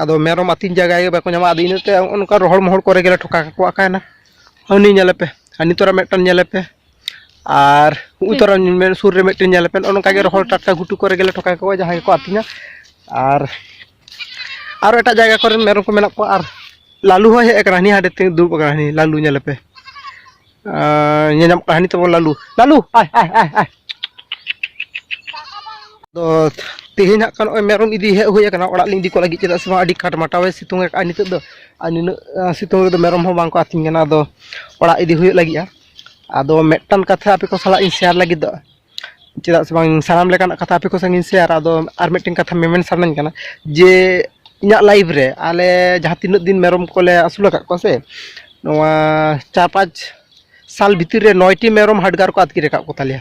ᱟᱫᱚ ᱢᱮᱨᱚᱢ ᱟᱹᱛᱤᱧ ᱡᱟᱭᱜᱟ ᱜᱮ ᱵᱟᱠᱚ ᱧᱟᱢᱟ ᱟᱫᱚ ᱤᱱᱟᱹᱛᱮ ᱚᱱᱠᱟ ᱨᱚᱦᱚᱲ ᱢᱚᱦᱚᱲ ᱠᱚᱨᱮ ᱜᱮᱞᱮ ᱴᱷᱚᱠᱟ ᱠᱟᱠᱚ ᱟᱠᱟᱭᱮᱱᱟ ᱦᱟᱹᱱᱤ ᱧᱮᱞᱮᱯᱮ ᱦᱟᱹᱱᱤ ᱛᱚᱨᱟ ᱢᱤᱫᱴᱟᱝ ᱧᱮᱞᱮᱯᱮ ᱟᱨ ᱩᱱ ᱛᱚᱨᱟ ᱥᱩᱨ ᱨᱮ ᱢᱤᱫᱴᱮᱱ ᱧᱮᱞᱮᱯᱮ ᱱᱚᱜᱼᱚ ᱱᱚᱝᱠᱟ ᱜᱮ ᱨᱚᱦᱚᱲ ᱴᱟᱴᱠᱟ ᱜᱷᱩᱴᱩ ᱠᱚᱨᱮ ᱜᱮᱞᱮ ᱴᱷᱚᱠᱟ ᱠᱟᱠᱚᱣᱟ ᱡᱟᱦᱟᱸᱭ ᱜᱮᱠᱚ ᱟᱹᱛᱤᱧᱟ ᱟᱨ ᱟᱨᱚ ᱮᱴᱟᱜ ᱡᱟᱭᱜᱟ ᱠᱚᱨᱮᱱ ᱢᱮᱨᱚᱢ ᱠᱚ ᱢᱮᱱᱟᱜ ᱠᱚᱣᱟ ᱟᱨ ᱞᱟᱞᱩ ᱦᱚᱸᱭ ᱦᱮᱡ ᱟᱠᱟᱱᱟ ᱦᱟᱹᱱᱤ ᱦᱟᱸᱰᱮ ᱛᱮ ᱫᱩᱲᱩᱵ ᱟᱠᱟᱱᱟᱭ ᱞᱟᱞᱩ ᱧᱮᱞᱮᱯᱮ ᱧᱮᱧᱟᱢ ᱠᱟᱹᱦᱱᱤ ᱛᱟᱵᱚᱱ ᱞᱟᱞᱩ ᱞᱟᱞᱩ ᱟᱭ ᱟᱭ ᱟᱭ ᱟᱭ ᱫᱚ ᱛᱮᱦᱮᱧ ᱦᱟᱸᱜ ᱠᱷᱟᱱ ᱱᱚᱜᱼᱚᱭ ᱢᱮᱨᱚᱢ ᱤᱫᱤ ᱦᱮᱡ ᱦᱩᱭ ᱟᱠᱟᱱᱟ ᱚᱲᱟᱜ ᱞᱤᱧ ᱤᱫᱤ ᱠᱚ ᱞᱟᱹᱜᱤᱫ ᱪᱮᱫᱟᱜ ᱥᱮ ᱵᱟᱝ ᱟᱹᱰᱤ ᱠᱟᱴᱢᱟᱴᱟᱣᱮ ᱥᱤᱛᱩᱝ ᱟᱠᱟᱫᱼᱟ ᱱᱤᱛᱚᱜ ᱫᱚ ᱟᱨ ᱱᱤᱱᱟᱹᱜ ᱥᱤᱛᱩᱝ ᱨᱮᱫᱚ ᱢᱮᱨᱚᱢ ᱦᱚᱸ ᱵᱟᱝᱠᱚ ᱟᱹᱛᱤᱧ ᱠᱟᱱᱟ ᱟᱫᱚ ᱚᱲᱟᱜ ᱤᱫᱤ ᱦᱩᱭᱩᱜ ᱞᱟᱹᱜᱤᱫᱼᱟ ᱟᱫᱚ ᱢᱤᱫᱴᱟᱝ ᱠᱟᱛᱷᱟ ᱟᱯᱮ ᱠᱚ ᱥᱟᱞᱟᱜ ᱤᱧ ᱥᱮᱭᱟᱨ ᱞᱟᱹᱜᱤᱫᱚᱜᱼᱟ ᱪᱮᱫᱟᱜ ᱥᱮ ᱵᱟᱝ ᱥᱟᱱᱟᱢ ᱞᱮᱠᱟᱱᱟᱜ ᱠᱟᱛᱷᱟ ᱟᱯᱮ ᱠᱚ ᱥᱟᱝ ᱤᱧ ᱥᱮᱭᱟᱨᱟ ᱟᱫᱚ ᱟᱨ ᱢᱤᱫᱴᱮᱱ ᱠᱟᱛᱷᱟ ᱢᱮᱢᱮᱱ ᱥᱟᱱᱟᱧ ᱠᱟᱱᱟ ᱡᱮ ᱤᱧᱟᱹᱜ ᱞᱟᱭᱤᱯᱷ ᱨᱮ ᱟᱞᱮ ᱡᱟᱦᱟᱸ ᱛᱤᱱᱟᱹᱜ ᱫᱤᱱ ᱢᱮᱨᱚᱢ ᱠᱚᱞᱮ ᱟᱹᱥᱩᱞ ᱟᱠᱟᱫ ᱠᱚᱣᱟ ᱥᱮ ᱱᱚᱣᱟ ᱪᱟᱨ ᱯᱟᱸᱪ ᱥᱟᱞ ᱵᱷᱤᱛᱤᱨ ᱨᱮ ᱱᱚᱭᱴᱤ ᱢᱮᱨᱚᱢ ᱦᱟᱰᱜᱟᱨ ᱠᱚ ᱟᱹᱛᱠᱤᱨ ᱟᱠᱟᱫ ᱠᱚᱛᱟᱞᱮᱭᱟ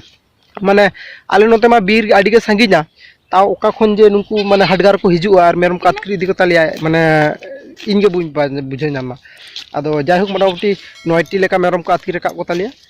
ᱢᱟᱱᱮ ᱟᱞᱮ ᱱᱚᱛᱮ ᱢᱟ ᱵᱤᱨ ᱟᱹᱰᱤ ᱜᱮ ᱥᱟᱺᱜᱤᱧᱟ ᱛᱟᱣ ᱚᱠᱟ ᱠᱷᱚᱱ ᱡᱮ ᱱᱩᱠᱩ ᱢᱟᱱᱮ ᱦᱟᱰᱜᱟᱨ ᱠᱚ ᱦᱤᱡᱩᱜᱼᱟ ᱟᱨ ᱢᱮᱨᱚᱢ ᱠᱚ ᱟᱹᱛᱠᱤᱨ ᱤᱫᱤ ᱠᱚᱛᱟᱞᱮᱭᱟ ᱢᱟᱱᱮ ᱤᱧ ᱜᱮ ᱵᱟᱹᱧ ᱵᱩᱡᱷᱟᱹᱣ ᱧᱟᱢᱟ ᱟᱫᱚ ᱡᱟᱭᱦᱳᱠ ᱢᱳᱴᱟᱢᱩᱴᱤ ᱱᱚᱭᱴᱤ ᱞᱮᱠᱟ ᱢᱮᱨᱚᱢ ᱠᱚ ᱟᱹᱛᱠᱤᱨ ᱟᱠᱟᱫ ᱠᱚᱛᱟᱞᱮᱭᱟ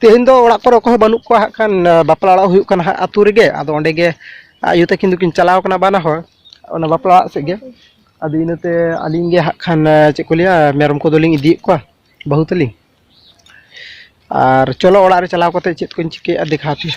ᱛᱮᱦᱮᱧ ᱫᱚ ᱚᱲᱟᱜ ᱠᱚᱨᱮ ᱚᱠᱚᱭ ᱦᱚᱸ ᱵᱟᱹᱱᱩᱜ ᱠᱚᱣᱟ ᱦᱟᱸᱜ ᱠᱷᱟᱱ ᱵᱟᱯᱞᱟ ᱚᱲᱟᱜ ᱦᱩᱭᱩᱜ ᱠᱟᱱᱟ ᱦᱟᱸᱜ ᱟᱹᱛᱩ ᱨᱮᱜᱮ ᱟᱫᱚ ᱚᱸᱰᱮ ᱜᱮ ᱟᱭᱳ ᱛᱟᱹᱠᱤᱱ ᱫᱚᱠᱤᱱ ᱪᱟᱞᱟᱣ ᱠᱟᱱᱟ ᱵᱟᱱᱟ ᱦᱚᱲ ᱚᱱᱟ ᱵᱟᱯᱞᱟ ᱚᱲᱟᱜ ᱥᱮᱫ ᱜᱮ ᱟᱫᱚ ᱤᱱᱟᱹᱛᱮ ᱟᱹᱞᱤᱧ ᱜᱮ ᱦᱟᱸᱜ ᱠᱷᱟᱱ ᱪᱮᱫ ᱠᱚ ᱞᱟᱹᱭᱟ ᱢᱮᱨᱚᱢ ᱠᱚᱫᱚᱞᱤᱧ ᱤᱫᱤᱭᱮᱫ ᱠᱚᱣᱟ ᱵᱟᱹᱦᱩ ᱛᱟᱹᱞᱤᱧ ᱟᱨ ᱪᱚᱞᱚ ᱚᱲᱟᱜ ᱨᱮ ᱪᱟᱞᱟᱣ ᱠᱟᱛᱮᱫ ᱪᱮᱫ ᱠᱚᱧ ᱪᱤᱠᱟᱹᱭᱮᱫᱼᱟ ᱫᱮᱠᱷᱟᱣ ᱟᱯᱮᱭᱟ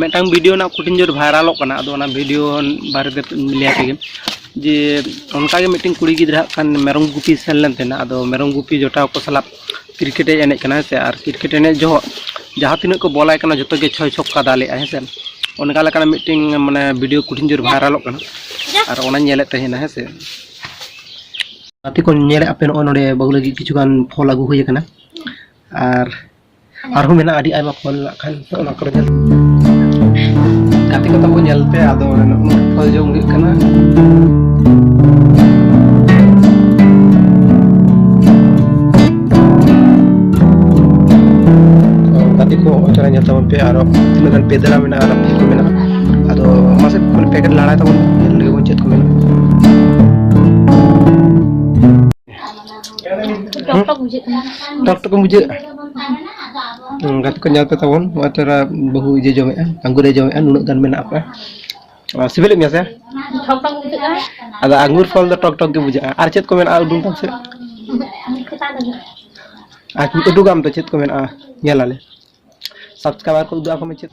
ᱢᱤᱫᱴᱟᱝ ᱵᱷᱤᱰᱤᱭᱳ ᱨᱮᱱᱟᱜ ᱠᱩᱴᱤᱱ ᱡᱳᱨ ᱵᱷᱟᱭᱨᱟᱞᱚᱜ ᱠᱟᱱᱟ ᱟᱫᱚ ᱚᱱᱟ ᱵᱷᱤᱰᱤᱭᱳ ᱵᱟᱨᱮᱛᱮ ᱞᱟᱹᱭ ᱛᱮᱜᱮ ᱡᱮ ᱚᱱᱠᱟᱜᱮ ᱢᱤᱫᱴᱮᱱ ᱠᱩᱲᱤ ᱜᱤᱫᱽᱨᱟᱹ ᱦᱟᱸᱜ ᱠᱷᱟᱱ ᱢᱮᱨᱚᱢ ᱜᱩᱯᱤ ᱥᱮᱱ ᱞᱮᱱ ᱛᱟᱦᱮᱱᱟ ᱟᱫᱚ ᱢᱮᱨᱚᱢ ᱜᱩᱯᱤ ᱡᱚᱴᱟᱣ ᱠᱚ ᱥᱟᱞᱟᱜ ᱠᱨᱤᱠᱮᱴ ᱮ ᱮᱱᱮᱡ ᱠᱟᱱᱟ ᱥᱮ ᱟᱨ ᱠᱨᱤᱠᱮᱴ ᱮᱱᱮᱡ ᱡᱚᱦᱚᱜ ᱡᱟᱦᱟᱸ ᱛᱤᱱᱟᱹᱜ ᱠᱚ ᱵᱚᱞᱟᱭ ᱠᱟᱱᱟ ᱡᱚᱛᱚ ᱜᱮ ᱪᱷᱚᱭ ᱪᱷᱚᱠᱠᱟ ᱫᱟᱞᱮᱜᱼᱟ ᱦᱮᱸ ᱥᱮ ᱚᱱᱠᱟ ᱞᱮᱠᱟᱱᱟᱜ ᱢᱤᱫᱴᱤᱝ ᱢᱟᱱᱮ ᱵᱷᱤᱰᱤᱭᱳ ᱠᱩᱴᱷᱤᱱ ᱡᱳᱨ ᱵᱷᱟᱭᱨᱟᱞᱚᱜ ᱠᱟᱱᱟ ᱟᱨ ᱚᱱᱟ ᱧᱮᱞᱮᱫ ᱛᱟᱦᱮᱱᱟ ᱦᱮᱸ ᱥᱮ ᱜᱟᱛᱮ ᱠᱚ ᱧᱮᱞᱮᱫ ᱟᱯᱮ ᱱᱚᱜᱼᱚᱭ ᱱᱚᱰᱮ ᱵᱟᱹᱦᱩ ᱞᱟᱹᱜᱤᱫ ᱠᱤᱪᱷᱩᱜᱟᱱ ᱯᱷᱚᱞ ᱟᱹᱜᱩ ᱦᱩᱭ ᱟᱠᱟᱱᱟ ᱟᱨ ᱟᱨᱦᱚᱸ ᱢᱮᱱᱟᱜᱼᱟ ᱟᱹᱰᱤ ᱟᱭᱢᱟ ᱯᱷᱚᱞ ᱢᱮᱱᱟᱜ ᱠᱷᱟᱱ ᱚᱱᱟ ᱠᱚᱨᱮ ᱧᱮᱞ ᱜᱟᱛᱮ ᱠᱚ ᱛᱟᱵᱚ ᱧᱮᱞ ᱯᱮ ᱟᱫᱚ ᱯᱷᱚᱞ ᱡᱚᱢ ᱦᱩᱭᱩᱜ ᱠᱟᱱᱟ ᱜᱟᱛᱮ ᱠᱚ ᱚᱪᱚᱨᱟ ᱧᱮᱞ ᱛᱟᱵᱚᱱ ᱯᱮ ᱟᱨᱚ ᱛᱤᱱᱟᱹᱜ ᱜᱟᱱ ᱯᱮᱫᱮᱨᱟ ᱢᱮᱱᱟᱜᱼᱟ ᱟᱨ ᱯᱷᱚᱞ ᱠᱚ ᱢᱮᱱᱟᱜᱼᱟ ᱟᱫᱚ ᱢᱟᱥᱮ ᱯᱮᱠᱮᱴ ᱞᱟᱲᱟᱭ ᱛᱟᱵᱚᱱ ᱧᱮᱞ ᱞᱮᱜᱮ ᱵᱚᱱ ᱪᱮᱫ ᱠᱚ ᱢᱮᱱᱟᱜᱼᱟ ᱴᱚᱠ ᱴᱚᱠ ᱵᱩᱡᱷᱟᱹᱜ ᱠᱟᱱᱟ ᱴᱚᱠ ᱴᱚᱠ ᱵᱩᱡᱷᱟᱹᱜ ᱜᱟᱛᱮ ᱠᱚ ᱧᱮᱞ ᱯᱮ ᱛᱟᱵᱚᱱ ᱱᱚᱜᱼᱚᱭ ᱛᱚᱨᱟ ᱵᱟᱹᱦᱩ ᱤᱭᱟᱹ ᱡᱚᱢᱮᱜᱼᱟ ᱟᱝᱜᱩᱨᱮ ᱡᱚᱢᱮᱜᱼᱟ ᱱᱩᱱᱟᱹᱜ ᱜᱟᱱ ᱢᱮᱱᱟᱜ ᱯᱮ ᱥᱤᱵᱤᱞᱮᱫ ᱢᱮᱭᱟ ᱥᱮ ᱴᱚᱠ ᱴᱚᱠ ᱵᱩᱡᱷᱟᱹᱜ ᱠᱟᱱᱟ ᱟᱫᱚ ᱟᱝᱜᱩᱨ ᱯᱷᱚᱞ ᱫᱚ ᱴᱚᱠ ᱴᱚᱠ ᱜᱮ ᱵᱩᱡᱷᱟᱹᱜᱼᱟ ᱟᱨ ᱪᱮᱫ ᱠᱚ ᱢᱮᱱᱟᱜᱼᱟ ᱩᱰᱩᱝ ᱛᱟᱢ ᱥᱮ ᱟᱨ ᱩᱰᱩᱠᱟᱢ ᱛᱚ ᱪᱮᱫ ᱠᱚ ᱢᱮᱱᱟᱜᱼᱟ ᱧᱮᱞᱟᱞᱮ ᱥᱟᱵᱥᱠᱨᱟᱭᱵᱟᱨ ᱠᱚ ᱩᱫᱩᱜ ᱟᱠᱚ ᱢᱮ ᱪᱮᱫ